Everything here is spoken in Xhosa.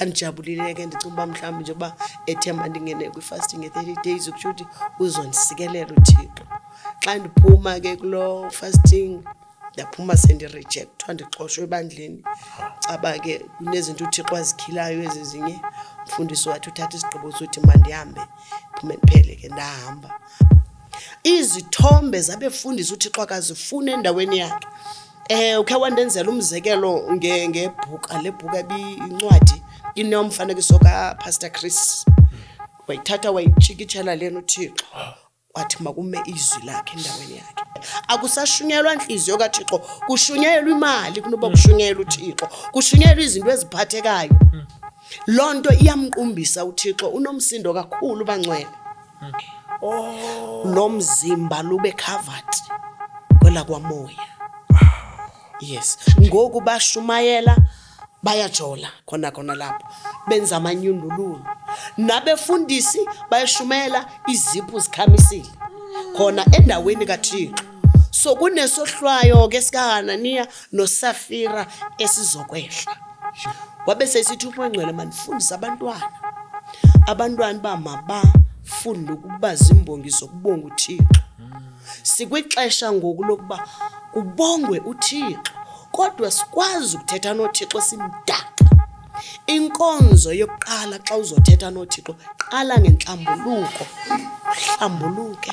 ndandijabulile ke ndicinga uba mhlawumbi nje uba ethemba ndingene kwi-fasting ye-thirty days ukutsho ukuthi uzondisikelela uthixo xa ndiphuma ke kuloo fasting ndaphuma sendirejekthwa ndixoshwe ebandleni caba ke kunezinto uthixo azikhilayo ezi zinye umfundisi wathi uthatha isigqibo sothi mandihambe phume ndiphele ke ndahamba izithombe zabefundisi uthixo akazifuni endaweni yakhe um ukhe wandenzela umzekelo ngebhuka le bhuka ebiyincwadi inomfanekiso kapastor chris wayithatha wayitshikitshela lena uthixo wathi makume izwi lakhe endaweni yakhe akusashunyelwa ntliziyo kathixo kushunyelwa imali kunoba mm. kushunyelwa uthixo kushunyelwa izinto eziphathekayo mm. loo nto iyamqumbisa uthixo unomsindo kakhulu bangcwele mm. oh. lo mzimba lube covered kwelakwamoya yes ngoku bashumayela oh. bayajola khona khona lapho benza amanyundululu nabefundisi bayashumela iziphu zikhamisile khona endaweni kathixo so kunesohlwayo ke sikahananiya nosafira esizokwehla wabe sesithi umangcwele mandifundise abantwana abantwana uba mabafunde ukuba zimbongi zokubonga uthixo Sikwixesha ngoku lokuba kubongwe uThixo, kodwa sikwazi ukuthetha noThixo simdaka. Inkonzo yokuqala xa uzothetha noThixo, qala ngentlambuluko, uhlambuluke.